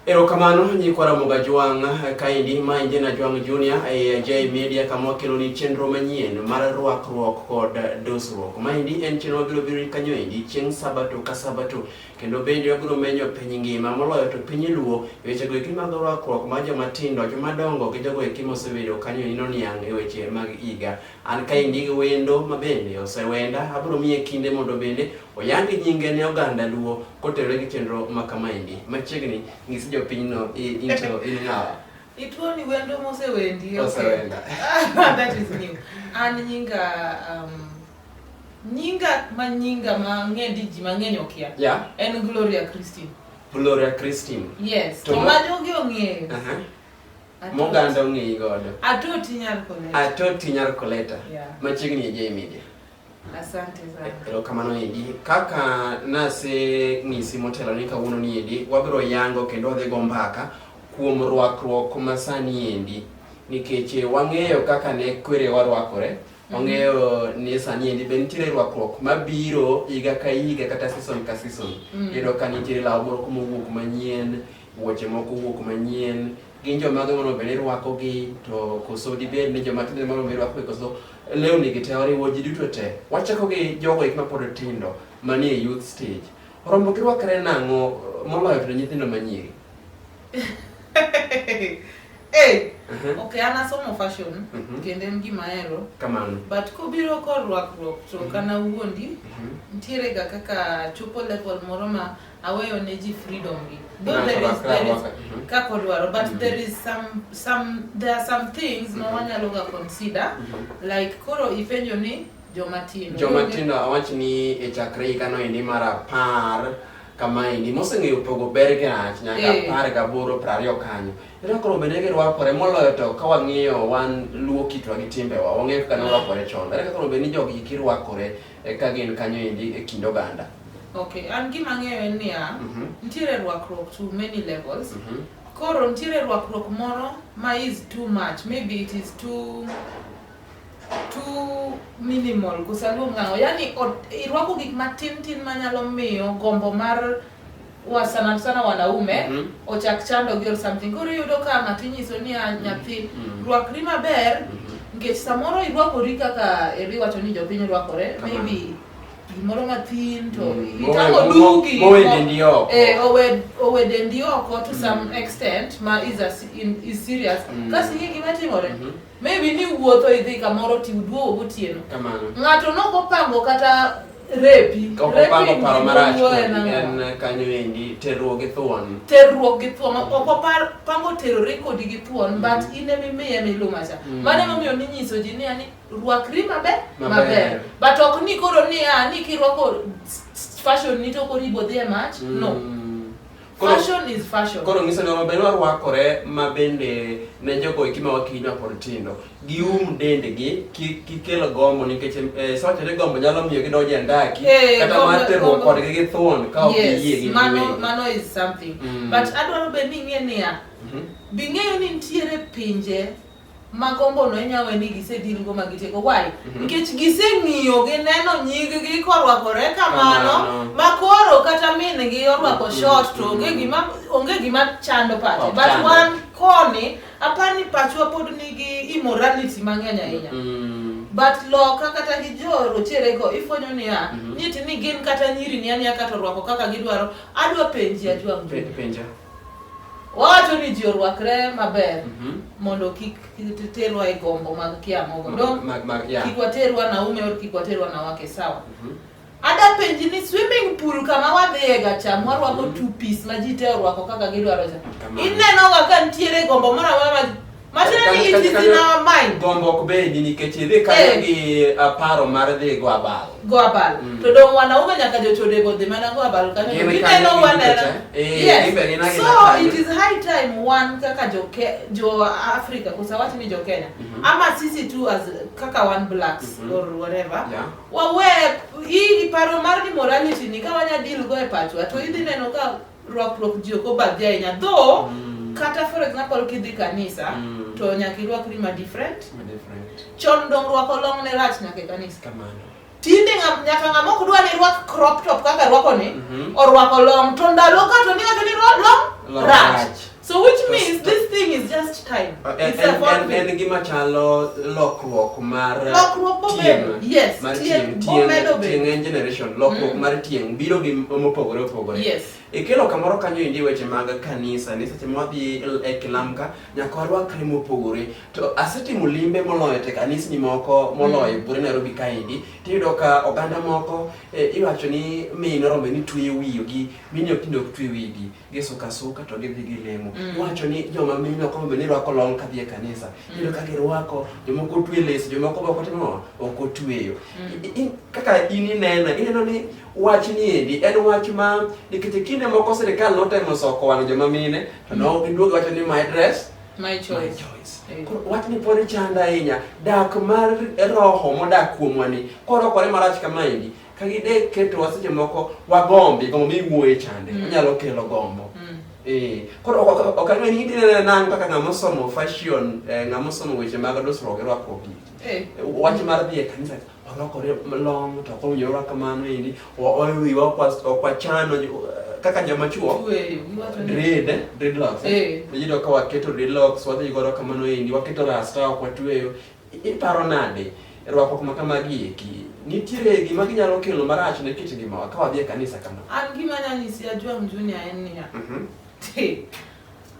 Erokamano nyikwa Ramoga Jwang' kaendi ma injena Jwang' Junior e J Media kama wakeloni chenro manyien mar rwakruok kod dosruok. Maendi en chenro mabiro biro kanyo endi chieng' Sabato ka Sabato kendo bende wabiro menyo piny ngima moloyo to piny luo e wechego eki mag rwakruok mar joma tindo, joma dongo gi jogo eki mosebedo kanyo endi noniang' e weche mag higa. An kaendi gi wendo mabende osewenda abiro miye kinde mondo bende Oyangi nyinge ne oganda Luo kotenore gi chenro ma kamaendi. Machiegni ng'is jopinyno into in ng'awa. Ituoni wendo mosewendi. Osewenda. That is new. An nyinga um, nyinga ma nyinga ma ng'endi ji mang'eny okia. Yeah. En Gloria Christine. Gloria Christine. Yes. To ma jogi ong'eyo. Uh -huh. Moganda ong'eyi godo. Atoti nyar koleta. Atoti nyar koleta. Yeah. Machiegni e J Media. Asante sana. Eh, erokamano endi. Kaka nase ng'isi motelo ni kawuono ni endi, wabiro yango kendo wadhi go mbaka kuom rwakruok ma sani endi. Nikech eh, wang'eyo kaka ne kwere warwakore, mhm. wang'eyo ni sani endi be nitiere rwakruok mabiro higa ka higa kata season ka season. Mm. Iyudo ka nitiere law moro mowuok manyien, wuoche moko wuok manyien, gin joma gimono bende irwakogi to koso dibed ni joma tindo mono bende irwakogi koso lewni gi te oriwo ji duto te wachako gi jogo ik mapod tindo manie youth stage rombo kirwakre nang'o moloyo to nyithindo manyiri hey, Mhm. okay an asomo fashion Mhm. kendo en gima ahero kamano but kobiro korwakruok to Mhm. kana wuondi Mhm. nitiere ga kaka chopo level moro ma aweyo ne ji freedom gi though Ng'ato there is rakra there is waka. Mhm. kaka odwaro but Mhm. there is some some there are some things ma Mhm. wanyalo ga consider like koro ipenjo ni joma tindo joma tindo awach ni e chakre higa noendi mar apar kamaendi moseng'eyo pogo ber gi rach nyaka Eh. apar gaboro prariyo kanyo ira koro bende girwakore moloyo to ka wang'iyo wan luo kitwa gi timbewa wang'eyo kaka norwakore chon ere kaka koro bende ni jogi kirwakore E ka gin kanyo endi e kind oganda. Okay, an gima ang'eyo en niya, Mhm. nitiere rwakruok to many levels. Mhm. Koro nitiere rwakruok moro ma is too much, maybe it is too too minimal kusaluong'ango yani ot- irwako gik matin tin manyalo miyo gombo mar wa sana sana wanaume Mhm. ochak chandogi or something koro iyudo ka ng'ato inyiso niya nyathi Mhm. rwakri maber nikech samoro irwakori kaka eri wacho ni jopiny rwakore Kamano. maybe gimoro mathin to Mm. itang'o Mowe- dugi mowe mo- dendi oko. eh, owe- owe dendi oko to some extent ma is, a, in, is serious Mm. kasi ing'e gima timore Mhm. Maybe ni wuotho idhi kamoro ti uduogo gotieno. Kamano. Ng'ato nok opango kata repi. Kok opango paro marach en kanyo endi terruok gi thuon. Terruok gi thuon. Mm. Ok opango terore kodi gi thuon mm. but in ema imiye milumacha. Mm. Mano emomiyo ninyiso ji ni ani rwakri maber maber. But ok ni koro ni a ah, ni kirwako fashion ni to koro ibo dhi e mach. Mm. No. Koro- Fashion is fashion. koro ng'iso ni omaber warwakore ma bende ne jogo eki ma wakinywa kod tindo gium dendgi kik gikel gombo nikech eh, sawacho ni gombo nyalo miyo gidonjo e ndaki Eh, kata gombo- mar terruok gombo. kodgi gi thuon ka ok giyie yes, gi mano, giwegi. mano is something Mm. but adwaro be ni ing'e niya Mhm. bing'eyo ni nitiere pinje ma gombo no inya we ni gisedil go ma gitieko why Mhm. nikech giseng'iyo gineno nyiggi korwakore kamano Kamano. ma koro kata min gi orwako Mhm. short to onge Mhm. gima onge gima chando pache Ok but chando. wan koni apar ni pachwa pod nigi immorality mang'eny ahinya Mm. but loka kata gi jo rochere go ifwenyo niya Mhm. nyiti ni gin kata nyiri ni aniya kata orwako kaka gidwaro adwa penji ajwa Pe- penja Wawacho ni ji orwakre maber Mhm. mondo kik kik terwa e gombo mag kia mogo. Mag- Dong mag- mag- yeah. kik waterwa naume or kik waterwa na wake sawa. Mhm. Ada penji ni swimming pool kama wadhiye ga cha mwarwako two piece ma ji te orwako kaka gidwaro cha. Kamano. Inenoga ka nitiere gombo moro amora ma Matiende it is in our mind. Gombo ok bedi nikech idhi kanyo eh. gi uh, paro mar dhi go abal. Go abal. Mm. To dong wanaume nyaka jochode go dhi mana go abal kanyo. Gineno wanena. Eh, yes. So it is high time one kaka jo jo Africa kosa watu ni jo Kenya. Mm -hmm. Ama sisi tu as kaka one blacks mm -hmm. or whatever. Yeah. Wawe hii paro mar ni morality ni kawanya deal go e pachwa to idhi neno ka Rwakruok ji ok obadhi ahinya though Mm. kata for example kidhi kanisa Mm. to nyaka irwakri ma different Ma different. chon dong rwako long ne rach nyaka e kanisa Kamano. tinde ng'a- nyaka ng'ama ok dwa ni rwak crop top kaka rwako ni Mhm. orwako long to ndalo ka to ni wacho ni rwa- long Long rach rach. So which means this thing is just time. Uh, and, it's and, and, and gima chalo lokruok mar uh, lokruok bobedo. Yes. Mar tieng tieng tieng en generation lokruok mm. mar tieng biro gi mopogore opogore. Yes. Ikelo e kamoro kanyo indi weche mag kanisa ni seche ma wadhi e kilamka nyaka warwakre mopogore. To asetimo limbe moloyo te kanisni moko moloyo mm. bure Nairobi kaendi tiyudo ka oganda moko eh, iwacho ni min rombe ni tweyo wiyogi mini ok tindo ok twe wigi. gisuka suka to gidhi gilemo. Mm. Wacho ni joma mine ok onego ni rwako long kadhi e kanisa. Mm. Iyudo ka girwako, jomoko otwe les, jomoko be ok otimo ok otweyo. Mm. Kaka in ineno, ineno ni wach ni endi en wach ma nikech kinde moko sirkal notemo soko wang' joma mine to ne mm. giduogo wacho ni my dress my choice. My choice. Eh. Wach ni pod chanda ahinya dak mar roho modak kuomwa ni korokore marach kama endi ka gide ketowa seche moko wagombi gombo miwuoye chande mm. onyalo kelo gombo mm. eh, koro ok ang'e ni idinene nang' kaka ng'ama osomo fashion eh, ng'ama osomo weche mag dusruok irwako gi eh. wach mar dhi e kanisa orwakore long to ok owinjo orwak kamano endi owiwa ok wachano kaka joma chuo dread dreadlocks iyudo ka waketo dreadlocks wadhi godo kamano endi waketo rasta ok watweyo Iparo nade? Rwakruok ma kamagi eki, nitiere gima ginyalo kelo marach ne kit ngimawa ka wadhi e kanisa kama? An gima nanyisi Ajwang' Junior en niya, Mhm, "Ti,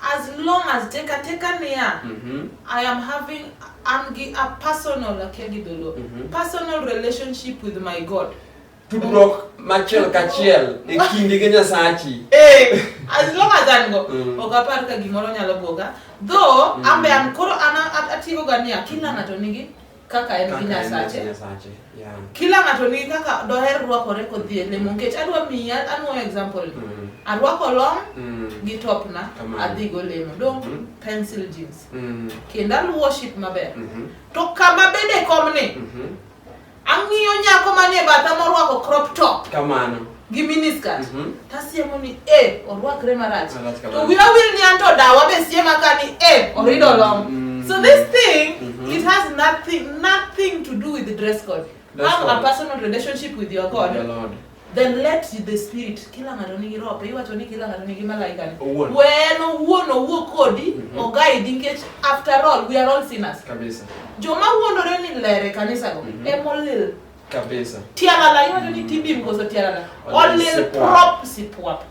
as long as teka teka niya, mhm, I am having an gi a personal akia gi dholuo, Mhm. personal relationship with my God. tudruok machiel kachiel e kindi gi nyasachi eh, as long as an go mm. ok apar ka gimoro nyalo buoga though mm. ambe an koro an atigo ga niya kila ng'ato nigi kaka en gi nyasache kila ng'ato nigi kaka doher rwakore kodhi e lemo nikech adwa miya anwo example mm. arwako long mm. gi topna adhigo lemo dong mm-hmm. pencil jeans mm. kendo aluwo ship maber mm-hmm. to kama bende komni mm-hmm. Ang'iyo nyako manie batha morwako crop top. Kamano. Gi miniskirt. Mm -hmm. Tasiemo ni eh orwakre marach. To wira wil ni anto dawa be siema ka ni eh orido mhm. long. Mm -hmm. So this thing mm -hmm. it has nothing nothing to do with the dress code. Have a personal relationship with your God. Your Lord. Then let the spirit kila ng'ato nigi roho iwacho ni kila ng'ato nigi malaika ni. Owuon. We en owuon owuo kodi Mhm. ogaidi nikech after all we are all sinners. Kabisa. Joma wuondore ni ler e kanisa go Mhm. ema olil. Kabisa. Tialala iwacho ni tibim koso tialala. Olil Olil sipwap. prop sipwap.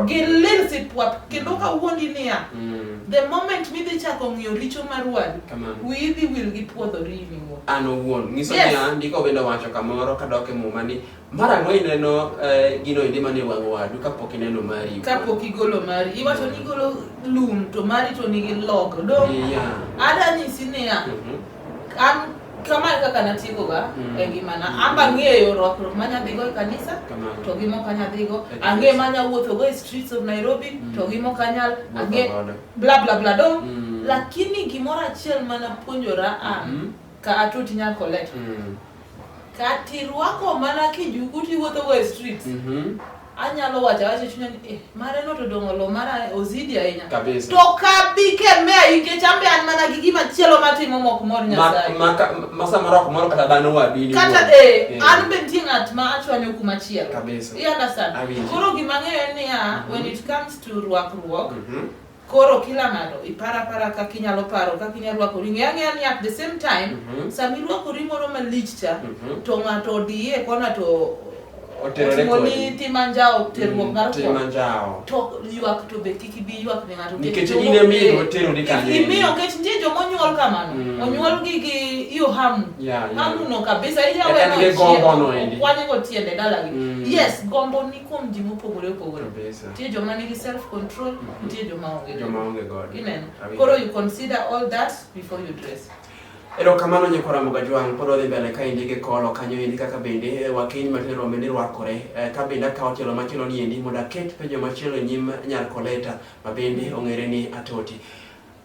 gilil sipwap kendo mm. kawuondi niya mm. the moment midhi chako ng'iyo richo mar wadu wiyi dhi wil gi puodho riwi an owuon ng'iso niya ndiko bende wacho kamoro kadok e muma ni mar ang'o ineno eh, gino endi mane wang' wadu kapok ineno mari kapok igolo mari iwacho ni igolo lum to mari to nigi log do ada nyisi niya mm-hmm. An kama e kaka natiekoga mm. e ngimana. Mm. Amba ang'eyo rwakruok ma nyadhigo e kanisa to gi mok anyadhigo. Ang'e ma nyawuothogo e streets of Nairobi mm. to gi mok anyal. Ang'e bla bla bla do. Mm. Lakini gimoro achiel ma napuonjora an mm -hmm. ka atoti nyal collect. Mm. Kati rwako mana kijuku tiwuothogo e streets. Mm -hmm. anyalo wacho awacho e chunya ni eh, mare no to dong' olo mara ozidi ahinya Kabisa. to kabi kemea nikech ambe an mana gi gima chielo matimo mok mor nyasaye Ma- ma- ka- ma samoro ok moro kata dhano wadu in kata iwuon. eh, Eh. an be nitie ng'at ma achwanyo kuma chielo Kabisa. You understand? Awinji. koro gima ang'eyo en niya when it comes to rwakruok Mhm. Koro kila ng'ato ipar apara kaka inyalo paro kaka inyalo rwakori. Ng'e ang'eya ni at the same time Mhm. sama irwakori moro malich cha Mhm. to ng'ato odiye kona to Oterore otimo ni kodi. tim anjawo terruok mar Tim kwana. anjawo. to ywak to be kik ibi ywak ne ng'ato Nikech in ema iye oterori kanyo. imiyo nikech nitie joma onyuol kamano Mm. onyuol gi gi hiyo hamu Yeah, yeah. hamu no kabisa Yaani ile gombo no endi. iyawekwanyego tiende dalagi Mm. yes gombo ni kuom ji mopogore opogore Kabisa. nitie joma nigi self control nitie joma onge Joma onge godo. ineno Awinjo. koro you consider all that before you dress erokamano nyikwa ramoga jwang' pod odhi mbele ka endi gi kolo kanyo endi kaka bende eh, wakeny matin rombe ni rwakore Eh, ka bende akawo tielo machielo ni endi mondo aket penjo machielo e nyim nyar koleta ma bende ong'ere ni atoti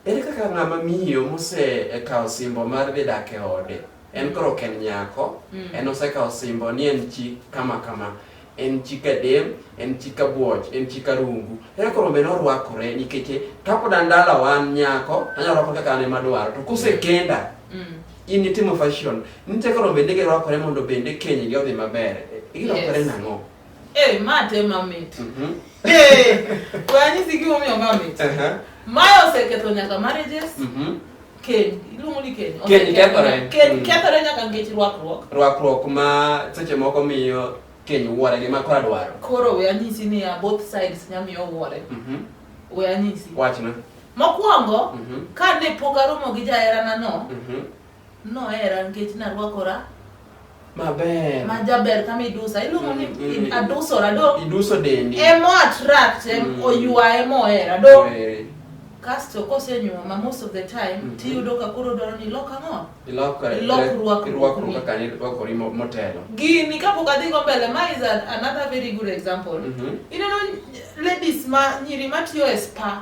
Ere kaka ng'ama miyo mosekawo e simbo mar dhi dak e ode en koro ok en nyako mm. en osekawo simbo ni en chi kama kama en chi kadem en chi kabuoch en chi karungu ere koro be norwakore nikech kapod an dala wan nyako anyalo rwako kaka an ema dwaro to kosekenda mm. in itimo fashion nitie koro bende girwakore mondo bende kenygi odhi maber girwakore yes. nang'o Eh, ma te mamit. Mhm. Eh, kwani siki mo miyo mamit. Aha. Maya oseketho nyaka marriages. Mhm. Ken, iluongo ni Ken. Ken kethore. Ken Mm. kethore nyaka nikech rwakruok. Rwakruok ma seche moko miyo keny wuore gi ma kora dwaro. Koro we anyisi ni ya both sides nya miyo wuore. Mhm. We anyisi. Wachna. Mokwongo, Mhm. ka ne pok aromo gi jaherana no, Mhm. Nohera nikech narwakora Maber. ma jaber kama idusa iluongo ni Mm, mm. adusora do Iduso dendi. emo attract em Mm. oywa emo ohera do Oweri. kasto kosenyuoma most of the time Mhm. tiyudo ka koro dwaro ni ilok ang'o Ilokore. Ilok rwakruok Irwakruok ni. kaka nirwakori mo- motelo. gini kapok adhi go mbele ma is an, another very good example Mhm. ineno ladies ma nyiri matiyo e spa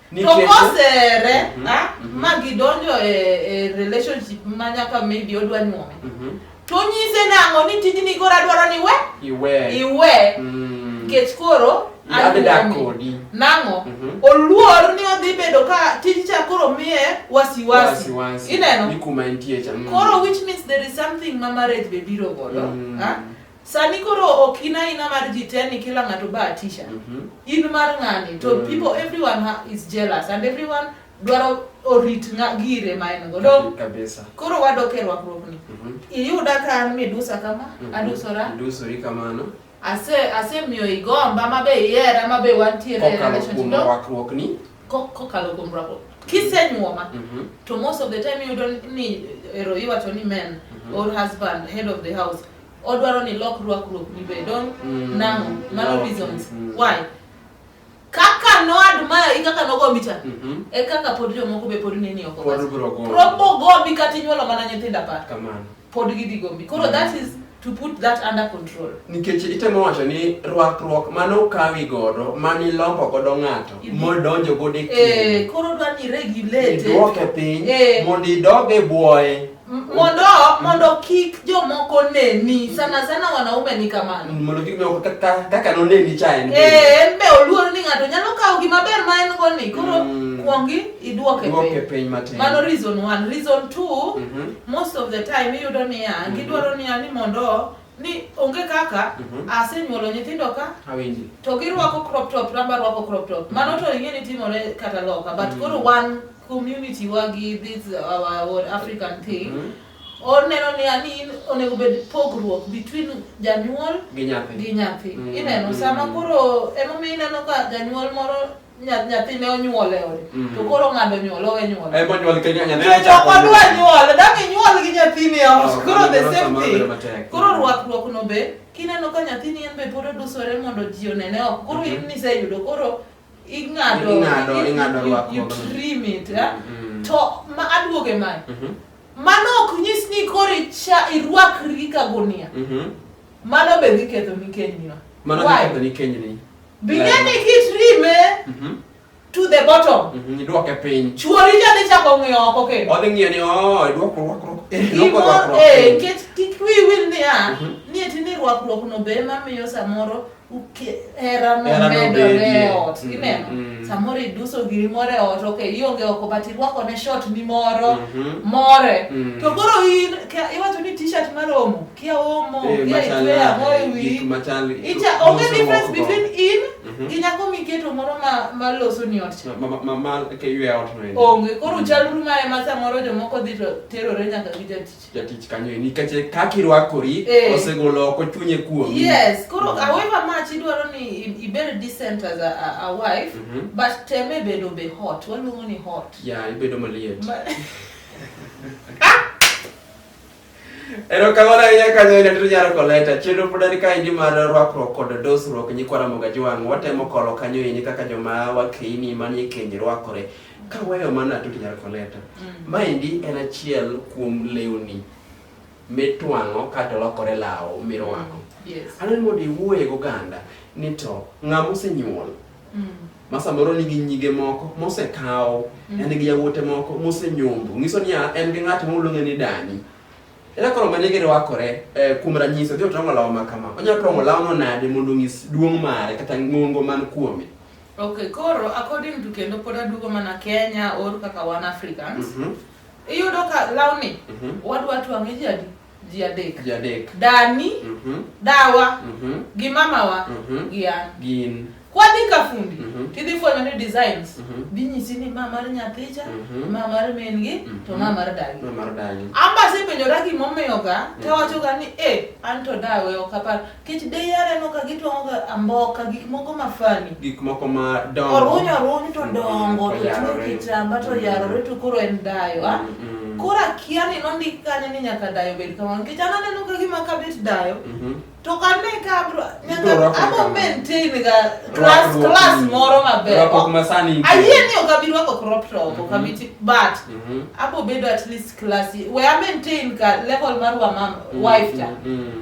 Tokosere mm -hmm. mm ma gidonjo e, e relationship ma nyaka maybe odwa nyuome mm -hmm. to nyise nang'o ni tijni koro adwaro ni we iwe iwe mm. nikech koro adakodi nang'o mm -hmm. oluor ni odhi bedo ka tij cha koro miye wasiwasi ineno ni kuma entie cha mm. koro which means there is something ma marriage be biro godo mm. ha? Sani koro ok in aina mar ji te ni kila ng'ato ba atisha. In mar ng'ani to Mm. people everyone ha- is jealous and everyone dwaro orit ng'a- gire ma en go. Dong Kabisa. koro wadok e rwakruokni. Mhm. Iyuda ka an midusa kama, Mhm. adusora. Idusori kamano. Ase asemiyo igomba ma be ihera ma be wantiere e Kokalo relationship. kuom Dong wakruokni. ko- kokalo kuom rwakruok. Kisenyuoma Mhm. to most of the time iyudo ni ero iwacho ni men Mhm. or husband head of the house odwaro ni lok rwakruok ni be don mm. nango mano reasons mm. why kaka no admire i kaka nogo mbicha mm -hmm. e kaka pod jomoko be pod nini oko pod bro go propo go bi kati nyuolo mana nyithinda pa kamano pod gidhi go mbi koro mm. that is to put that under control nikech itemo wacho ni rwakruok mane okawi godo mane ilombo godo ng'ato modonjo godo e eh, koro dwa ni regulate dwoke piny eh. mondo idog e bwoye mondo mondo kik jomoko neni sana sana wanaume ni kamano mondo kik jomoko kaka kaka noneni cha en eh en be oluor ni ng'ato nyalo kawo gima ber ma en go ni koro Mm. kuongi idwoke Dwoke piny piny matin. mano reason one reason two Mhm. most of the time iyudo niya Mhm. gidwaro niya ni mondo ni onge kaka Mhm. asenyuolo nyithindo ka awinji to girwako crop top ramba rwako crop top mano to ing'e ni timore kata loka but Mm. koro wan community wagi this our, our African thing mm -hmm. oneno ni ani onego bed pogruok between janyuol gi nyathi gi nyathi mm -hmm. ineno mm-hmm. sama koro ema mi ineno ka janyuol moro nyathine onyuol e ode mm-hmm. to koro ng'ado nyuol owe nyuol e monyuol ke nyathine to chok odwa nyuol dak inyuol gi nyathini e ot oh, koro the same thing koro rwakruok no be kineno ka nyathini en be pod odusore mondo ji onene oko koro mm-hmm. in niseyudo koro ing'ado Ing'ado, you- ing'ado you- rwakruok. you trim it eh? Mm. to ma aduoge mae Mhm, mano ok nyis ni koro icha irwakri ka gunia mhm. mano be dhi ketho ni kenyino Mano Why? giketho ni kenyni. bing'e ni kitrime Mhm, to the bottom mhm, Idwoke piny. chuori cha dhi chako ng'iyo oko kendo Odhi ng'iyo ni oh, idwoko rwakruok. Eh, idwoko Gimoro- rwakruok eh, piny. nikech kik wiyi wil niya Mhm. ni eti ni rwakruokno be ema miyo samoro hera nomedore e ot mm, ineno mm, mm. samoro iduso giri moro e ot ok ionge oko but irwakone shot ni moro mm-hmm. more to koro in iwacho ni t-shirt maromo kia omo eh, kia itwe ang'o e wi onge difference between in mm-hmm. gi nyako miketo moro maloso ni ot onge koro chalru ma ema samoro jomoko dhi to terore nyaka gi jatich jatich kanyo e nikache kaki rwakori eh. osegolo oko chunye kuom yes koro mm -hmm. however much idwaro ni ibedo decent as a, a, a wife mm -hmm. but teme bedo be hot waluongo ni hot ya yeah, ibedo maliet Ma Ero kamano ahinya kanyo ina tito nyaro koleta chenro pod ari kaendi mar rwakruok kod dosruok nyikwa Ramogi Ajwang' watemo kolo kanyo ini kaka joma wakeini manie keny rwakore Kaweyo mano atut nyar koleta. Mm. Maendi en achiel kuom lewni mitwang'o kato lokore lawo mirwako. Mm. Yes. Aneno mondo iwuoye goganda ni to ng'ama osenyuol mm. ma samoro nigi nyige moko mosekawo mm. en gi yawuote moko mosenyombo ng'iso ni en gi ng'at ma uluonge ni dani ere koro mane girwakore eh, kuom ranyisi odhi otong'o lawo ma kama onyalo tong'o lawono nade mondo onyis duong' mare kata ng'ongo man kuome Ok, koro according to kendo pod aduogo mana Kenya or kaka wan Africans. Mm -hmm. Iyudo ka lawni mm -hmm. wadwa twang'e ji adi? Ji adek. Ji adek. Dani, mm -hmm. dawa, mm -hmm. gi mamawa, mm -hmm. gi an. Gin. Kwadhi ka fundi, mm -hmm. tidhi fwenyo ni designs. Mm -hmm. Binyisi ni ma mar nyathicha, mm -hmm. ma mar min gi, mm -hmm. to ma mar dagi. Ma mar dagi. Amba sepenjora gimomiyo ga, mm -hmm. tawacho ga ni, eh, an to dawe ok apar. Kech de yare no ka gitwang'o ga amboka gik moko ma funny. Gik moko ma dongo. Oruny oruny to Mm, dongo to tuo oyarore. kitamba to Mm. yarore to koro en dayo. Ah, Mm, mm. Koro akia ni nondik kanyo ni nyaka dayo bed kamano. Nikech an aneno ka gima kabet dayo. Mhm. To kane ka abro nyaka Ibro rwako abo kamano. maintain ga class Rwakruok, class mm. moro maber. Rwakruok ma sani nitie. Ayie ni ok abi rwako crop top, ok abi ti- but Mhm. abo bedo at least classy. We are maintain ka level mar wa mam wife ta. Mm, mm.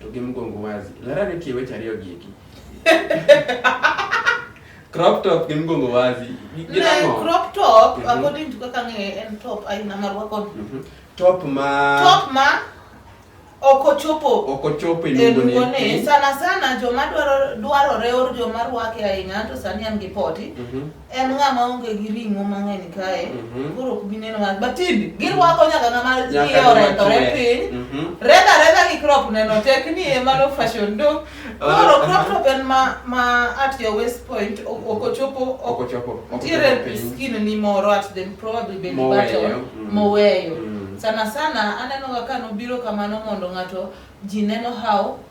to gi mgongo wazi. Lara ne tie weche ariyo gieki. crop top gi mgongo wazi. Ne crop top mhm. according to kaka ng'e en top aina ma rwako. Mhm. Top ma Top ma okochopo okochopo ilungone sana sana joma dwaro dwarore or joma rwake ahinya to sani an gi poti mm -hmm. en ng'ama onge gi ring'o mang'eny kae mhm. koro ok bi neno ng'at batidi girwako nyaka ng'ama iye orentore piny mhm. redha redha gi crop neno tek ni e mano fashion do koro crop top en ma ma at your waist point ok ochopo ok ochopo nitiere skin ni moro at the probably belly button moweyo mm. mm. sana sana aneno ga ka nobiro kamano mondo ng'ato ji neno how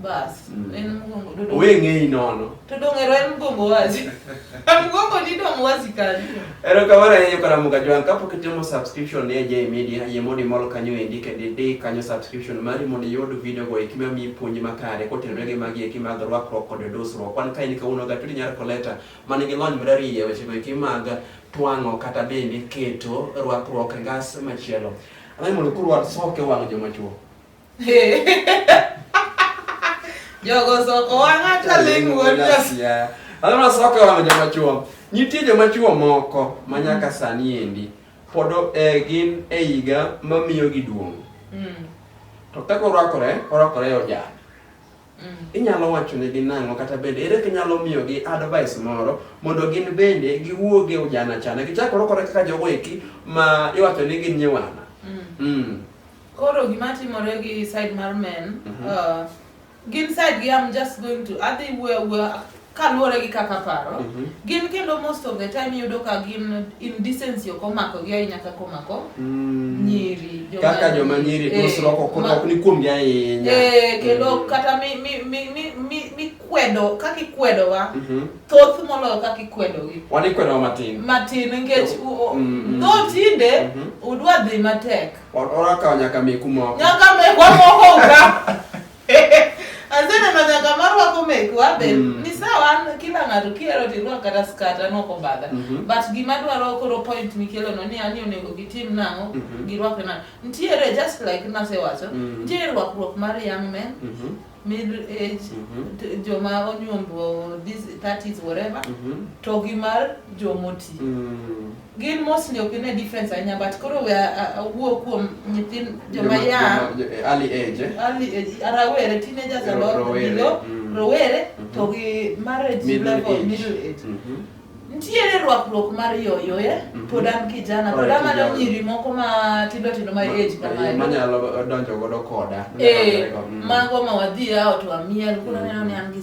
Bas. Mm. En mgongo dodo. Wewe ngei nono. To donge en mgongo wazi. mgongo ni dong wazi kali. Ero kamano ahinya Karamoga Jwang' kapok itimo subscription ne Jay Media, yie mondo imol kanyo endi kendo idi kanyo subscription mari mondo iyud video go eki mamiyi puonj makare kotenore gi magi eki mag rwakruok kod dusruok. Wan kae ni kawuono Gatudi Nyar Koleta man gi lony marariya e weche go eki mag twang'o kata bende keto rwakruok e ngas machielo. Anaye mondo kurwar soke wang' joma chuo. Jogo soko wang'a taling' wuod Nyasaye. Adhi mana soko e wang'a joma chwo. Nitie joma chwo moko ma nyaka sani endi pod eh, gin e higa mamiyogi duong'. Mm. To kaka orwakore, orwakore e ojana. Mm. Inyalo wachonegi nang'o kata bende ere kinyalo miyogi advice moro mondo gin bende giwuog e ujana chana gichakore kore kaka jogo eki ma iwacho ni gin nyiwana. Mm. Mm. Koro gima timore gi side mar men, mm -hmm. uh, gin side gi I'm just going to adhi wuoyo wuoyo kaluwore gi kaka paro Mhm. gin kendo most of the time iyudo ka gin indecency ok omako gi ahinya kaka omako Mm. nyiri joma- kaka joma nyiri Eh, dusruok ok ma- ok ni kuomgi ahinya Eh, kendo Mm. kata mi- mi- mi- mi- mi- mikwedo kaka ikwedowa Mhm. thoth moloyo kaka ikwedogi wan ikwedowa matin matin nikech u- u- Mm, mm. dho tinde Mhm. udwa dhi matek Wa- orakawo nyaka meku moko nyaka mekwa moko uga Azana manyaka marwako mek wabe mm. ni sawa an kila ng'ato kiero tirwak kata skat an ok obadha mm -hmm. but gima dwaro koro point mikelo no ni ani onego gitim nang'o mm -hmm. girwakre nang'o ntiere just like nasewacho mm -hmm. ntiere rwakruok mar young men mm -hmm. middle age mm -hmm. joma onyuombo this 30s whatever mm -hmm. to gi mar jomoti mm -hmm. Gin mostly ok ine difference ahinya but koro we awuo kuom nyithin joma young. Eh, early age. Eh? Early age. Rawere, teenagers a lot. Rowere. Mm. Rowere mm-hmm. to gi marriage middle level, age. middle age. Mm -hmm. Nitiere rwakruok mar yoyo e, mm-hmm. pod an kijana, pod amanyo nyiri moko ma tindo tindo ma age kamae. Manyalo donjo godo koda. Eh, mm. mago ma wadhi out wamiel, kuna neno ni an gi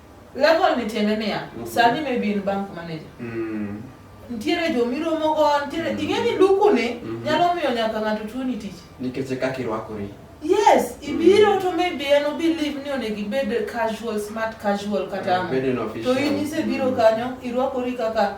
Level ni tiende niya, Mhm. sani maybe in bank manager. Mm. Nitiere jo miromo go, nitiere Mhm. ing'e ni luku ni Mhm. nyalo miyo nyaka ng'ato tuoni tich. Nikech e kaka irwakori. Yes, ibiro to maybe en obelieve ni onego ibed casual, smart casual kata ang'o. Bedo ni To official. in isebiro kanyo, irwakori kaka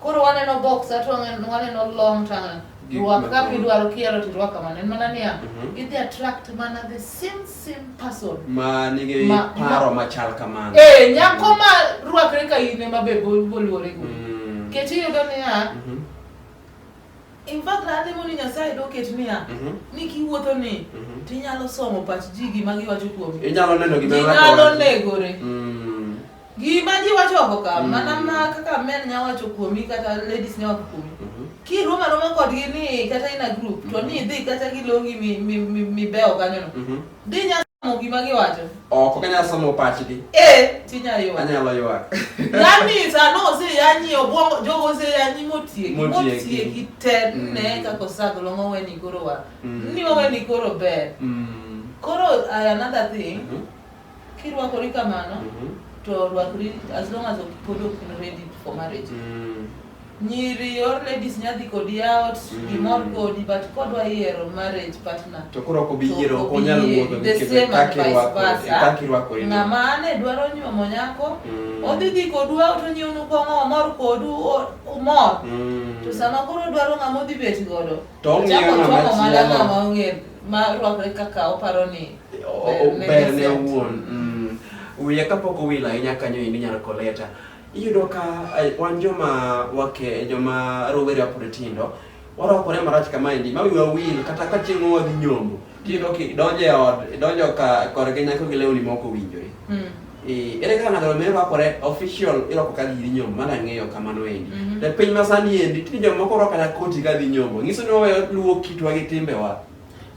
Koro waneno box to waneno waneno long to waneno Gik rwak ma kaka kama. idwaro kiero to irwak kamano. En mana niya, Mhm. idhi attract mana the same same person. ma nigi Ma- paro ma- machal kamano Eh, nyako ma rwakre ka in ema be bol- boluore go. Mm. Ket iyudo niya, Mhm. in fact alemo ni Nyasaye doket niya, Mhm. ni kiwuotho ni Mhm. tinyalo somo pach ji gima giwacho kuomi. inyalo neno gima Ji nyalo negore. Mm. Gima ji wacho oko ka, Mm. mana ma kaka men nya wacho kuomi kata ladies nya wacho kuomi. Mhm. Kirwom aroma kodgi ni kata in a group to ni idhi kata gilongi mi- mi- mi- mibewo kanyono. Mhm. Dhi nya somo gima giwacho. Ok ok anyal somo pachgi. Eh, tinya ywa. Anyalo ywak. Yaani sano ose yanyi obwongo jogo ose yanyi motieki Motieki. motieki te Mm. ne kaka osago long'o weni koro wa. Mm. Ni waweni koro ber. Mm. Koro uh, another thing, Mhm. Kirwakori kamano Mhm. to rwakri as long as ok- pod ok in ready for marriage. Mm. Nyiri your ladies nyadhi kodi out, Mm. gimor kodi but kodwa yiero marriage partner. To koro ok obi yiero ok onyal wuotho The nikech same kaka and vice irwako- versa. kaka irwakori. Ng'ama ane dwaro nyuomo nyako, Mm. odhi dhi kodu out onyiewnu kong'o omor kodu o- umor. Mm. To sama koro odwaro ng'ama odhi bet godo, To ong'iyo ochako ng'ama chwako mana chielo. ng'ama ong'e ma rwakre kaka oparo ni O- Ne- ber ne ne owuon mm. wiye kapok owil ahinya kanyo indi nyar koleta iyudo ka eh, wan joma wake joma rowere apod tindo warwakore marach kamaendi ma wiwa wil kata ka chieng' wadhi nyombo tiyudo ki idonjo e od idonjo ka korgi nyako gi lewni moko winjore Mm. Eh, ere kaka ng'ato me rwakore official irwako ka giri nyombo mana ng'eyo kamano endi Mhm. e piny masani endi tinde jomoko rwako kata koti ka dhi nyombo nyiso ni waweyo luwo kitwa gi timbewa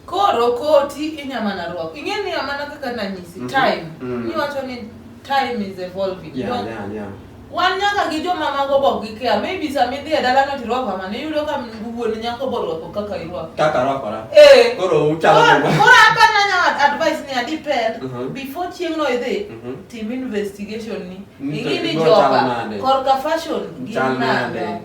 Koro koti inya mana rwako. Ing'e ni amana kaka nanyisi mm -hmm. time. Mm -hmm. Niwacho ni time is evolving. Yeah, no? yeah, yeah. Wan nyaka gi joma mago bok gi kia. Maybe sama idhi e dala ng'ato irwako amana, iyudo ka wuon nyako bo rwako kaka irwako. Kaka rwakora. Eh. Koro uchalo joma. Koro hapa nanya advice ni adipel uh -huh. before chieng' no idhi uh mhm. -huh. tim investigation ni. Ing'e ni joga korka fashion gin nade.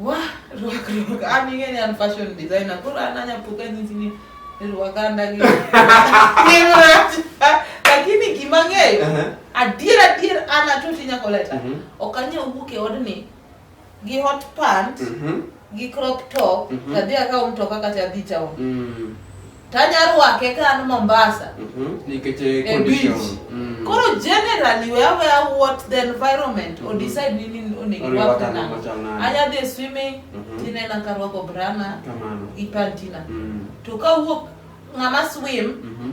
Wah, ruak ruak. An ing'e ni an fashion designer. Koro an anya puka nyisi ni ruak anda gi. Ni rach. Lakini gima ng'eyo, Aha. adier adier an atoti nyako leta. Mhm. Ok anya wuok e odni gi hot pant, Mhm. gi crop top, Mhm. tadhi akaw mtoka kata adhi town. Mm. Tanya ruake kan Mombasa. Mhm. Nikech eh, eh, condition. Mm. Koro generally we have a what the environment mm -hmm. or mhm. decide nini onego wapata na. Anya the swimming mm -hmm. tine na karwako brana. Kamano. Ipantina. Mm. To ka wuok ngama swim mm -hmm.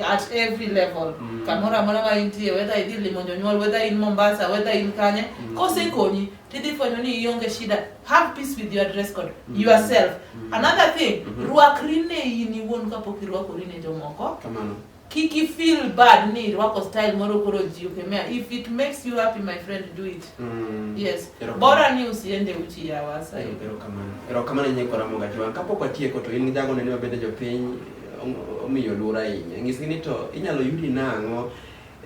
at every level mm. kamoro amora ma intie whether idhi limo jonyuol whether in Mombasa whether in Kanye mm. kosekonyi tidhi fwenyo ni ionge shida have peace with your dress code mm. yourself mm. another thing mm -hmm. rwakri ne in iwuon kapok irwakori ne jomoko kamano kik i feel bad ni irwako style moro koro ji okemea if it makes you happy my friend do it mm. yes bora ni usiende uchi ya wasa erokamano erokamano nyekoramoga jwan kapok watieko to in jago nene mabende jopiny omiyo luor ahinya. Nyisgi ni to inyalo yudi nang'o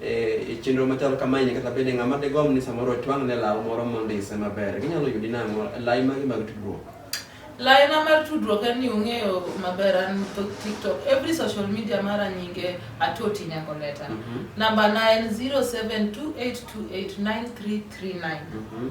e, e chenro machal kamaeni kata bende ng'ama digom ni samoro otwang' ne law moro mondise maber ginyalo yudi nang'o lai magi mag tudruok laina mar tudruok en ni ung'eyo maber an tiktok every social media mara nyinge atoti nyako leta mm -hmm. namba na en 0728289339 mm -hmm.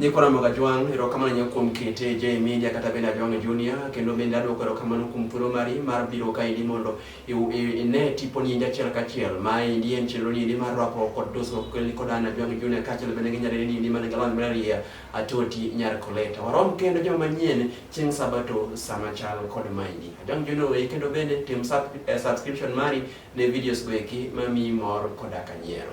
Nyikwa Ramoga Jwang', erokamano ahinya kuom kete J Media kata bende Ajwang' Junior, kendo bende adwoko erokamano kuom thuolo mari mar biro kaendi mondo ine tiponi endi achiel kachiel. Ma endi en chenro ni endi mar rwako kod dusruok kelni kod an Ajwang' Junior kaachiel bende gi nyarere ni endi man gi lony mararieya Atoti Nyar Koleta. Warom kendo joma manyien chieng' Sabato sama chal kod maendi. Ajwang' Junior weyi kendo bende tim eh, subscription mari ne videos go eki mamiyi mor koda ka nyiero.